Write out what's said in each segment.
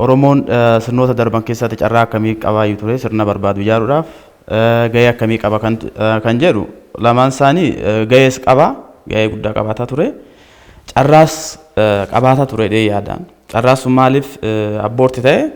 Oromoon sirnoota darban keessaatti carraa akkamii qabaayyu ture sirna barbaadu ijaaruudhaaf? Gahee akkamii qaba kan jedhu lamaan isaanii gahees qaba gahee guddaa qabaataa ture carraas qabaataa ture jedhee yaada. Carraan sun maaliif abboorti ta'e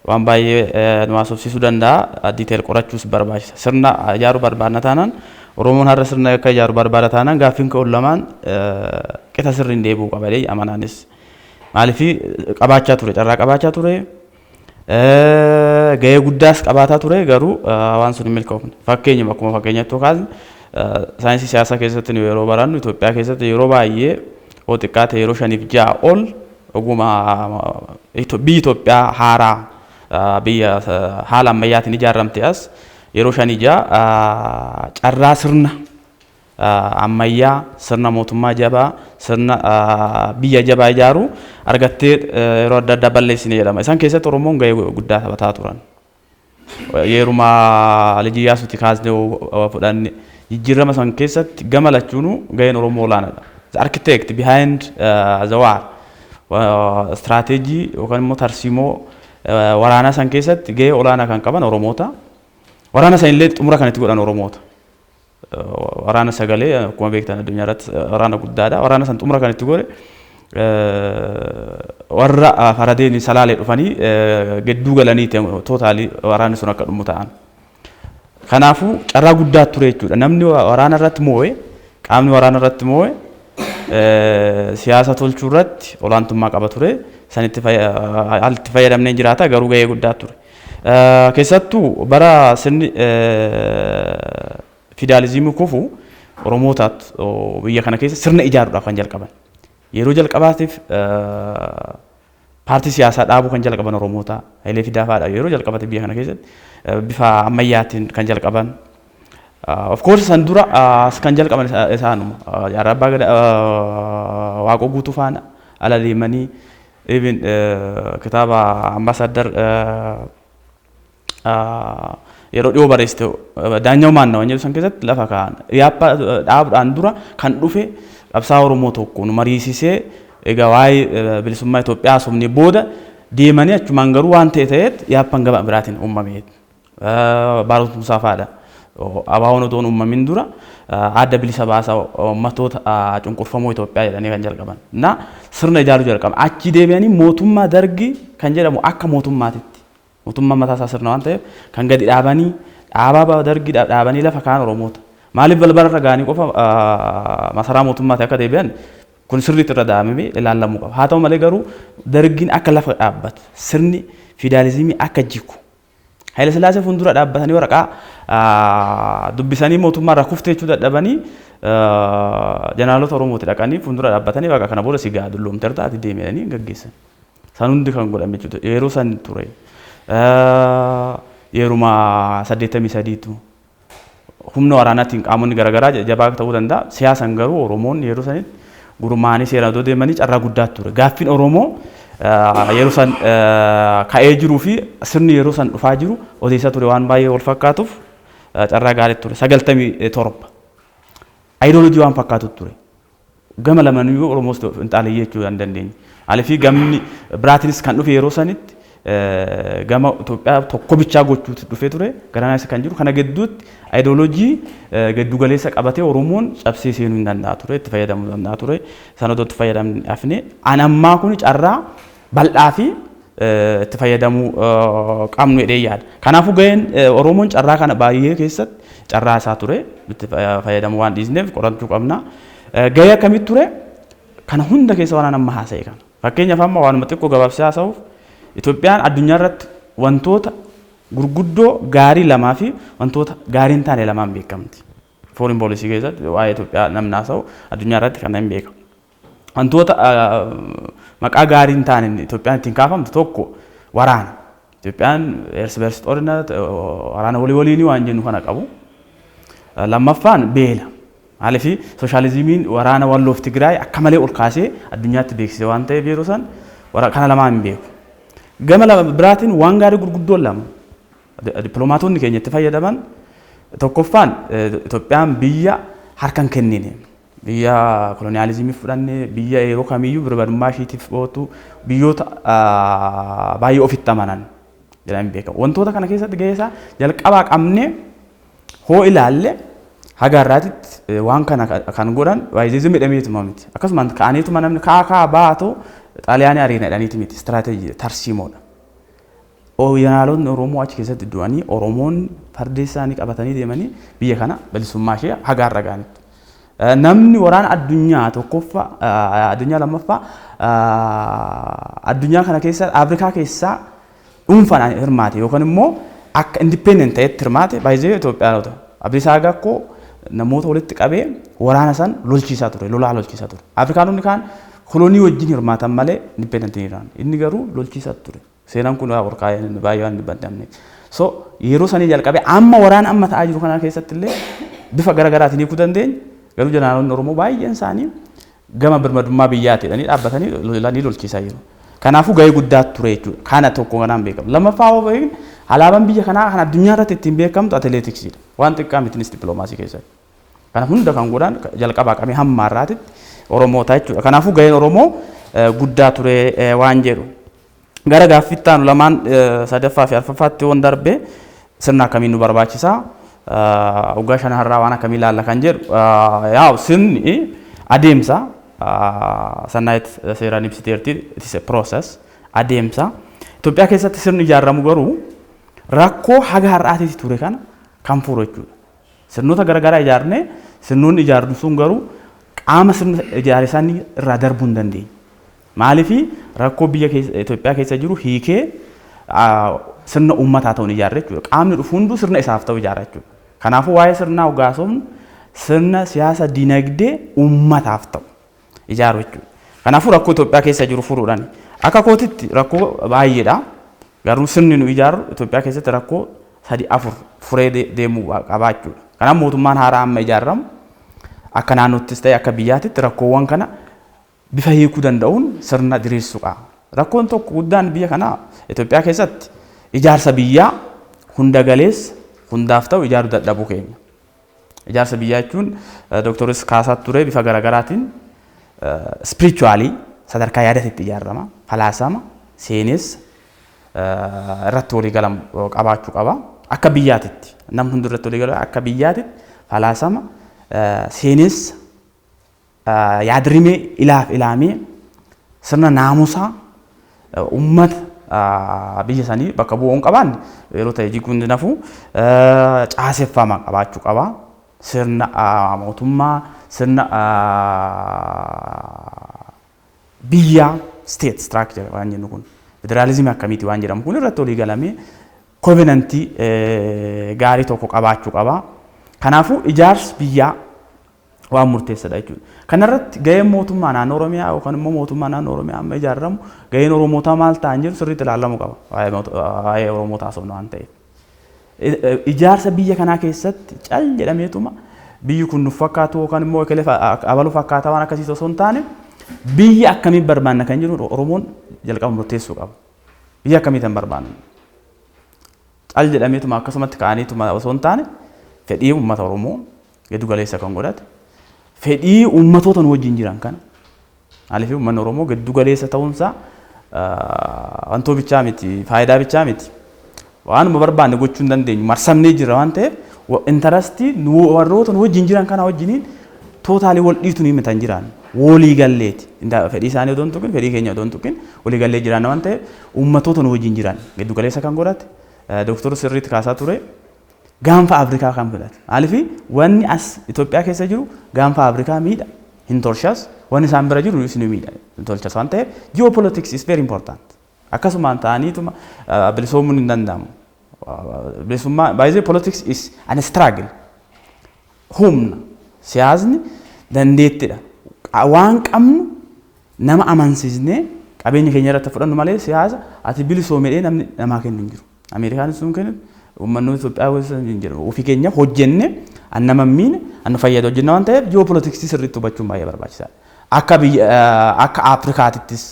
waan baay'ee nu haasofsiisuu danda'a diiteel qorachuus barbaachisa. Sirna ijaaruu barbaadna taanaan Oromoon har'a sirna akka ijaaru barbaada taanaan gaaffiin ka'u lamaan qixa sirriin deebi'uu qaba jedhee amanaanis. Maaliif qabaachaa ture carraa qabaachaa ture gahee guddaas qabaataa ture garuu waan sun hin milkoofne. Fakkeenyuma akkuma fakkeenyatti kaasne saayinsii siyaasaa keessatti nu yeroo barannu Itoophiyaa keessatti yeroo baay'ee yoo xiqqaa ta'e yeroo shaniif ja'a ol oguma biyyi Itoophiyaa haaraa biyya haala ammayyaatiin ijaaramte as yeroo shanii ja'a carraa sirna ammayyaa, sirna mootummaa jabaa, sirna biyya jabaa ijaaruu argattee yeroo adda addaa balleessine jedhama. Isaan keessatti Oromoon gahee guddaa taphataa turan. Yeruma Liji Iyaasuuti kaasnee yoo fudhanne jijjiirama san keessatti gama lachuunuu gaheen Oromoo olaanaadha. The architect behind uh, the war istiraateejii yookaan immoo tarsiimoo waraanaa san keessatti gahee olaanaa kan qaban Oromoota. Waraana san illee xumura kan itti godhan Oromoota. Waraana sagalee akkuma beektan addunyaa irratti waraana guddaadha. Waraana san xumura kan itti godhe warra faradeen salaalee dhufanii gidduu galanii tootaalii waraanni sun akka dhumu ta'an. Kanaafuu carraa guddaa ture jechuudha. Namni waraana irratti moo'e qaamni waraana irratti moo'e siyaasa tolchuu irratti olaantummaa qaba ture. Sanitti haalli itti fayyadamnee jiraata garuu gahee guddaa ture. Keessattuu bara sirni fidaalizimii kufu Oromootaat biyya kana keessa sirna ijaaruudhaaf kan jalqaban. Yeroo jalqabaatiif paartii siyaasaa dhaabuu kan jalqaban Oromoota Hayilee Fidaa fa'aadha. Yeroo jalqabaatiif biyya kana keessatti bifa ammayyaatiin kan jalqaban. Of course san dura as kan jalqaban isaanuma. Jaarraa Abbaa Gadaa Waaqoo Guutuu faana ala deemanii Even kitaaba ambassador yeroo dhiyoo barreessite daanyaw maanna waan jedhu san keessatti lafa kaa'an. Yaappaa dhaabdhaan dura kan dhufe qabsaa Oromoo tokko nu mariisisee egaa waa'ee bilisummaa Itoophiyaa haasofne booda deemanii achumaan garuu waan ta'e ta'eet yaappan gama biraatiin uummameet. Baaroot Buusaa faa dha. ABOn otoo hin uummamin dura Adda Bilisa Baasa Ummatoota Cunqurfamoo Itoophiyaa jedhanii kan jalqaban. Na sirna ijaaruu jalqaban. Achii deebi'anii mootummaa Dargii kan jedhamu akka mootummaatitti mootummaan mataa isaa sirna waan ta'eef kan gadi dhaabanii dhaabaa Dargii dhaabanii lafa kaan Oromoota. Maaliif balbala irra ga'anii qofa masaraa mootummaati akka deebi'an kun sirriitti irra daa'amamee ilaallamuu qaba. Haa ta'u malee garuu Dargiin akka lafa dhaabbatu sirni fiidaalizimii akka jigu Hayilasillaasee fuuldura dhaabbatanii waraqaa dubbisanii mootummaa irraa kufte jechuu dadhabanii jeneraalota Oromooti dhaqanii fuuldura dhaabbatanii baqa kana booda si gahaa dulloomterta ati deemi jedhanii gaggeessan. San hundi kan godhame jechuudha. Yeroo san ture. Yeruma saddeettamii sadiitu. humna waraanaatiin qaamonni garaagaraa jajjabaa ta'uu danda'a. Siyaasan garuu Oromoonni yeroo sanitti gurmaa'anii seeraan odoo deemanii carraa guddaa ture. Gaaffiin Oromoo yeroo san ka'ee jiruu fi sirni yeroo san dhufaa jiru odeessaa ture waan baay'ee wal fakkaatuuf carraa gaarii ture. Sagaltamii torba. Ayidoolojii waan fakkaatu ture. Gama lamaniyyuu Oromoos ta'u Finxaaleyyii jechuu kan dandeenye. Maalifii gamni biraatiinis kan dhufe yeroo sanitti gama Itoophiyaa tokko bichaa gochuutti dhufee ture. Garanaa isa kan jiru kana gidduutti ayidooloojii giddugaleessa qabatee Oromoon cabsee seenuu hin danda'a ture, itti fayyadamuu danda'a ture. Sana otoo itti fayyadamne hafne an ammaa kun carraa bal'aa fi itti fayyadamuu qabnu jedhee yaada. Kanaafuu gaheen Oromoon carraa kana baay'ee keessatti carraa isaa ture itti fayyadamuu waan dhiisneef qorachuu qabna. Gahee akkamitti ture? Kana hunda keessa waan amma haasa'e kana. Fakkeenyaaf amma waanuma xiqqoo gabaabsee haasa'uuf Itoophiyaan addunyaa irratti wantoota gurguddoo gaarii lamaa fi wantoota gaarii hin taane lamaan beekamti. Foreign policy keessatti waa'ee Itoophiyaa namni haasa'u addunyaa irratti kana hin beekamu. Wantoota maqaa gaarii hin taaneen Itoophiyaan ittiin kaafamtu tokko waraana. Itoophiyaan ersi bersi xorina waraana walii waliinii waan jennu kana qabu. Lammaffaan beela. Maaliif sooshaalizimiin waraana walloof Tigraay akka malee ol kaasee addunyaatti beeksise waan ta'eef yeroo san kana lamaan hin beeku. Gama biraatiin waan gaarii gurguddoon lama dippiloomaatonni keenya itti fayyadaman tokkoffaan Itoophiyaan biyya harka hin kennine. Biyya koloniyaalizimii fudhanne, biyya yeroo kamiyyuu birmadummaa ishiitiif ootu, biyyoota baay'ee ofitti amanan jedhamee beekamu. Wantoota kana keessatti gahee isaa jalqabaa qabnee hoo ilaalle haga har'aatitti waan kana kan godhan waayizizim jedhameetuma miti. Akkasumaan ka'aniituma namni ka'aa ka'aa baatu xaaliyaanii ariina jedhaniiti miti. Istiraateejii tarsiimoodha. Odoo janaalotni Oromoo achi keessatti du'anii Oromoonni fardeessaanii qabatanii deemanii biyya kana bilisummaa ishee haga har'a ga'anitti namni waraana addunyaa tokkoffaa addunyaa lammaffaa addunyaa kana keessa Afrikaa keessaa dhuunfaan hirmaate yookaan immoo akka independent ta'etti hirmaate baay'ee Itoophiyaanota. Abdiisaa Agakkoo namoota walitti qabee waraana san lolchiisaa ture, lolaa lolchiisaa ture. Afrikaanonni kaan kolonii wajjin hirmaatan malee independent hin jiran. Inni garuu lolchiisaa ture. Seenaan kun ol kaa'ee namni baay'ee waan dubbanne amne. So yeroo sanii jalqabee amma waraana amma ta'aa jiru kanaa keessatti illee bifa gara garaatiin hiikuu dandeenya. Garuu jeneraaloonni Oromoo baay'een isaanii gama birmadummaa biyyaati jedhanii dhaabbatanii lolanii lolchiisaa jiru. Kanaafuu gahee guddaa ture jechuudha. Kana tokko kanaan beekamu. Lammaffaa hoo beekne alaabaan biyya kanaa kan addunyaa irratti ittiin beekamtu atileetiksiidha. Waan xiqqaa mitinis dippiloomaasii keessatti. Kana hunda kan godhan jalqabaa qabee hamma har'aatitti Oromoota jechuudha. Kanaafuu gaheen Oromoo guddaa ture waan jedhu. Gara gaaffii itti aanu lamaan sadaffaa fi arfaffaatti yoon darbe sirna akkamii nu barbaachisa? Waggaa shanan har'aa waan akkamii ilaalla kan jedhu yaa'u sirni adeemsa sannaayit seeraan ibsiteerti it is a process adeemsa. Itoophiyaa keessatti sirni ijaaramu garuu rakkoo haga har'aatiiti ture kana kan furu jechuudha. Sirnoota garaagaraa ijaarnee sirnoonni ijaarnu sun garuu qaama sirna ijaare sanii irraa darbuu hin dandeenye. Maaliif rakkoo biyya keessa Itoophiyaa keessa jiru hiikee sirna uummat haa ta'u hin ijaarre jechuudha. Qaamni dhufu hunduu sirna isaaf ta'u ijaara jechuudha. Kanaafuu waa'ee sirnaa oggaa haasofnu sirna siyaasa dinagdee uummataaf ta'u ijaaru jechuudha. Kanaafuu rakkoo Itoophiyaa keessa jiru furuudhaan akka kootitti rakkoo baay'eedha. Garuu sirni nu ijaarru Itoophiyaa keessatti rakkoo sadi afur furee deemuu qabaa jechuudha. Kanaaf mootummaan haaraa amma ijaarramu akka naannoottis ta'e akka biyyaatitti rakkoowwan kana bifa hiikuu danda'uun sirna diriirsuu qaba. Rakkoon tokko guddaan biyya kanaa Itoophiyaa keessatti ijaarsa biyyaa hunda galeessa hundaaf ta'u ijaaruu dadhabuu keenya. Ijaarsa biyyaa jechuun Dooktoris kaasaa ture bifa garaagaraatiin spiritually sadarkaa yaadaatti itti ijaarama, falaasama, seenessa irratti walii galamu qabaachuu qaba. Akka biyyaatitti namni hundi irratti walii gala akka biyyaatitti falaasama, seenessa, yaad-rimee ilaaf ilaamee sirna naamusaa ummata biyya sanii bakka bu'u hin qabaanne yeroo ta'e jiguu hin dinafu caaseffama qabaachuu qaba. Sirna mootummaa, sirna biyyaa, state structure waan jennu kun federaalizimii akkamiiti waan jedhamu kun irratti olii galamee kovenantii gaarii tokko qabaachuu qaba. Kanaafuu ijaarsi biyyaa waan murteessadha jechuudha. Kanarratti gaheen mootummaa naannoo Oromiyaa yookaan immoo mootummaa naannoo Oromiyaa amma ijaaramu gaheen Oromootaa maal ta'an jedhu sirriitti ilaalamuu qaba. Waa'ee Oromoota haasofna waan ta'eef. Ijaarsa biyya kanaa keessatti cal jedhameetuma biyyi kun nuuf fakkaatu yookaan immoo ekelee abaluu fakkaataa waan akkasiisu osoo hin taane biyya akkamiin barbaanna kan jedhu Oromoon jalqaba murteessuu qaba. Biyya akkamiitan barbaanna? Cal jedhameetuma akkasumatti ka'aniituma osoo hin taane fedhii uummata Oromoo giddu galeessa kan godhate fedhii uummatoota nu wajjin jiran kana maaliif uummanni Oromoo giddu galeessa ta'uunsaa wantoo bichaa miti faayidaa bichaa miti waanuma barbaanne gochuu hin dandeenyu marsamnee jirra waan ta'eef intarastii nu warroota nu wajjin jiran kana wajjiniin tootaalii wal dhiitu ni mitan jiraan walii galleeti fedhii isaanii odoon tuqin fedhii keenya odoon tuqin walii gallee jiraanna waan ta'eef uummatoota nu wajjin jiran giddu galeessa kan godhate dooktorri sirriitti kaasaa ture Gaanfa Afrikaa kan filate maaliif wanni as Itoophiyaa keessa jiru gaanfa Afrikaa miidha hin tolshas wanni isaan bira jiru isin miidha hin tolshas waan ta'eef geopolitics is very important akkasumaan ta'aniituma bilisoomuun hin danda'amu bilisummaa baay'ee politics is an struggle humna siyaasni dandeettidha waan qabnu nama amansiisnee qabeenya keenya irratti fudhannu malee siyaasa ati bilisoomedhee namni namaa kennu hin jiru. Ameerikaanis sun kennu uummannoota Itoophiyaa gosa hin jedhamu. Ofii keenya hojjenne an nama miine an fayyada hojjenna waan ta'eef ji'oopolitiksii sirriitti hubachuun baay'ee barbaachisaadha. Akka biyya akka Afrikaatittis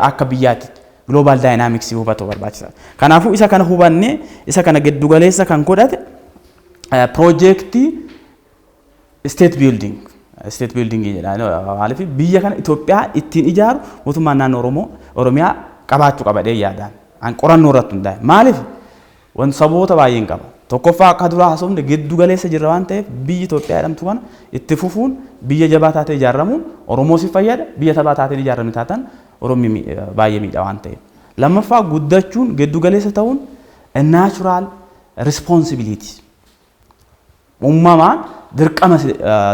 akka biyyaatti global dynamics hubatu barbaachisaadha. Kanaafuu isa kana hubannee isa kana giddu galeessa kan godhate piroojeektii State building state building jedha maaliif biyya kana Itoophiyaa ittiin ijaaru mootummaan naannoo Oromoo Oromiyaa qabaachuu qaba jedhee yaadaan an qorannoo irratti hundaa'e maaliif wan saboota baay'een qaba tokkoffaa akka duraa haasofne giddu galeessa jirra waan ta'eef biyyi Itoophiyaa jedhamtu kana itti fufuun biyya jabaa taatee ijaaramuun Oromoo si fayyada biyya sabaa taatee ijaarame taatan Oromii mi- baay'ee miidha waan ta'eef lammaffaa guddachuun giddu galeessa ta'uun a natural responsibility Uumamaan dirqama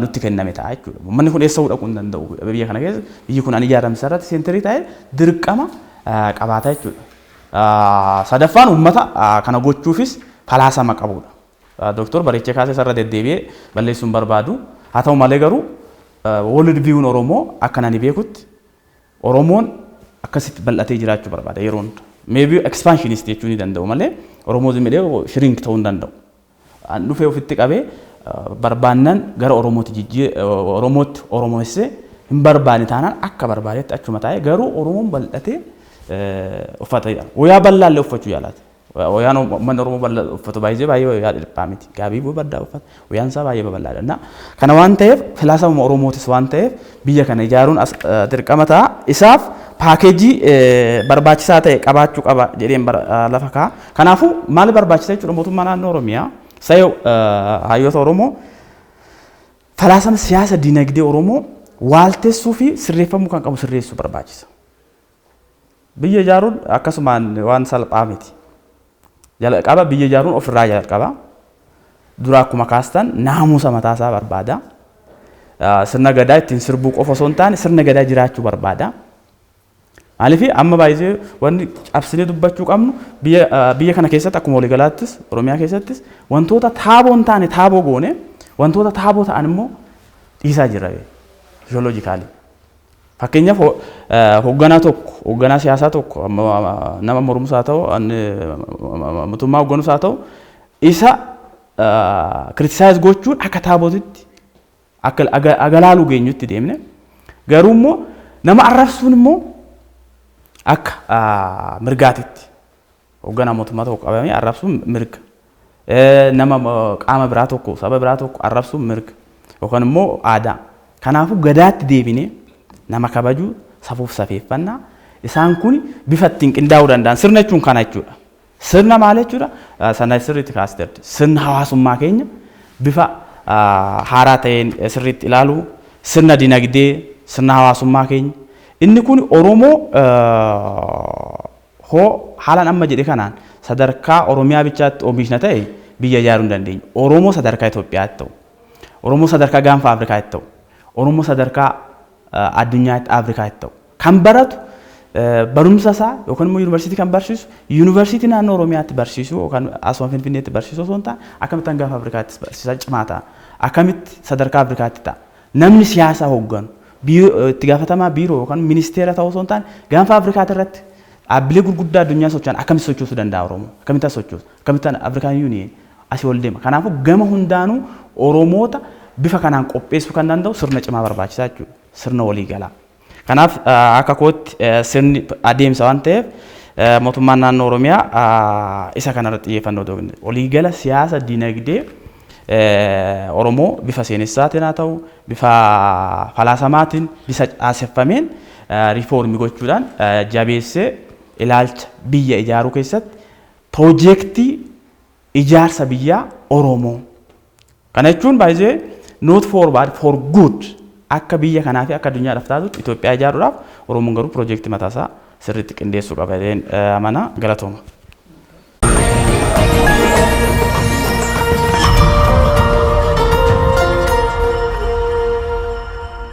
nutti kenname ta'a jechuudha. Uummanni kun eessa dhaquu hin danda'u. Biyya kana keessa biyyi kun an ijaarame irratti seenterii ta'e dirqama qabaata jechuudha. Sadaffaan uummata kana gochuufis falaasama qabudha. Dooktor Bareechee Kaasee isarra deddeebi'ee balleessuun barbaadu. Haa ta'u malee garuu World View'n Oromoo akka nani beekutti Oromoon akkasitti bal'atee jiraachuu barbaada yeroo hunda. Maybe expansionist jechuu ni danda'u malee Oromoo zim jedhee shrink ta'uu hin danda'u. An dhufee ofitti qabee barbaannan gara Oromootti jijjii Oromootti Oromoessee hin barbaane taanaan akka barbaadetti achuma taa'ee garuu Oromoon bal'atee uffata wayaa bal'aallee uffachuu yaalaati. Wayaan ummanni Oromoo bal'aa uffatu baay'ee baay'ee wayaa dhiphaa miti. Gaabii babal'aa uffata. Wayaan isaa baay'ee babal'aadha. Na kana waan ta'eef filaasama Oromootis waan ta'eef biyya kana ijaaruun as dirqama ta'a. Isaaf paakeejii barbaachisaa ta'e qabaachuu qaba jedheen lafa ka'a. Kanaafuu maal barbaachisa jechuudha mootummaa naannoo Oromiyaa sayoo hayyoota Oromoo falaasama siyaasa dinagdee Oromoo waaltessuu fi sirreeffamuu kan qabu sirreessuu barbaachisa. Biyya ijaaruun akkasumaan waan salphaa miti. Jalqaba biyya ijaaruun ofirraa jalqaba. Dura akkuma kaastan naamusa mataasaa barbaada. Sirna gadaa ittiin sirbuu qofa osoo hin taane sirna gadaa jiraachuu barbaada. Maaliif amma baay'ee wanti cabsinee dubbachuu qabnu biyya kana keessatti akkuma waliigalaattis Oromiyaa keessattis wantoota taaboo hin taane taaboo goone wantoota taaboo ta'an immoo dhiisaa jirra fiisiyooloojikaalii. Fakkeenyaaf hogganaa tokko, hogganaa siyaasaa tokko, nama mormus haa ta'u, mootummaa hogganus haa ta'u, isa criticize gochuun akka taabotitti akka agalaalu geenyutti deemne. Garuu immoo nama arrabsuun immoo akka mirgaatitti Hogganaa mootummaa tokko qabamee arrabsuun mirga. Nama qaama biraa tokko, saba biraa tokko arrabsuun mirga. Yookaan immoo aadaa. Kanaafuu Gadaatti deebinee nama kabajuu, safuuf safeeffannaa isaan kun bifa ittiin qindaa'uu danda'an. Sirna jechuun kana jechuudha. Sirna maal jechuudha? Sana sirriitti kaasteerti. Sirna hawaasummaa keenya bifa haaraa ta'een sirriitti ilaaluu, sirna dinagdee, sirna hawaasummaa keenya. Inni kun Oromoo hoo haalan amma jedhe kanaan sadarkaa Oromiyaa bichaatti oomishna ta'e biyya ijaaruu hin dandeenyu. Oromoo sadarkaa Itoophiyaatti ta'u, Oromoo sadarkaa gaanfa Afrikaatti ta'u, Oromoo sadarkaa addunyaatti Afrikaatti ta'u kan baratu barumsa isaa yookaan immoo yuunivarsiitii kan barsiisu yuunivarsiitii naannoo Oromiyaatti barsiisu yookaan asuma Finfinneetti barsiisu osoo hin taane akkamittan gaanfa Afrikaattis barsiisaa cimaa ta'a. Akkamitti sadarkaa Afrikaatti ta'a. Namni siyaasa hogganu, itti gaafatamaa biiroo yookaan ministeera ta'uu osoo hin taane, gaanfa Afrikaa irratti dhaabbilee gurguddaa addunyaa socho'an akkamitti sochoosuu danda'a Oromoon? Akkamitti as sochoosa? Akkamitti Afrikaan Yuuniyeen asii ol deema? Kanaafuu gama hundaanuu Oromoota bifa kanaan qopheessuu kan danda'u sirna cimaa barbaachisa jechuudha. Sirna waliigalaa. Kanaaf akka kootti sirni adeemsa waan ta'eef mootummaan naannoo Oromiyaa isa kanarratti xiyyeeffannoo otoo kenne waliigala siyaasa dinagdee Oromoo bifa seenessaatiin haa ta'u bifa falaasamaatiin bifa caaseffameen riifoormii gochuudhaan jabeessee ilaalcha biyya ijaaruu keessatti piroojeektii ijaarsa biyyaa Oromoo Kana jechuun by the way not for bad for good akka biyya kanaa fi akka addunyaadhaaf taatutti Itoophiyaa ijaaruudhaaf Oromoon garuu piroojeektii mataa isaa sirriitti qindeessuu qaba jedheen eh, amana galatooma.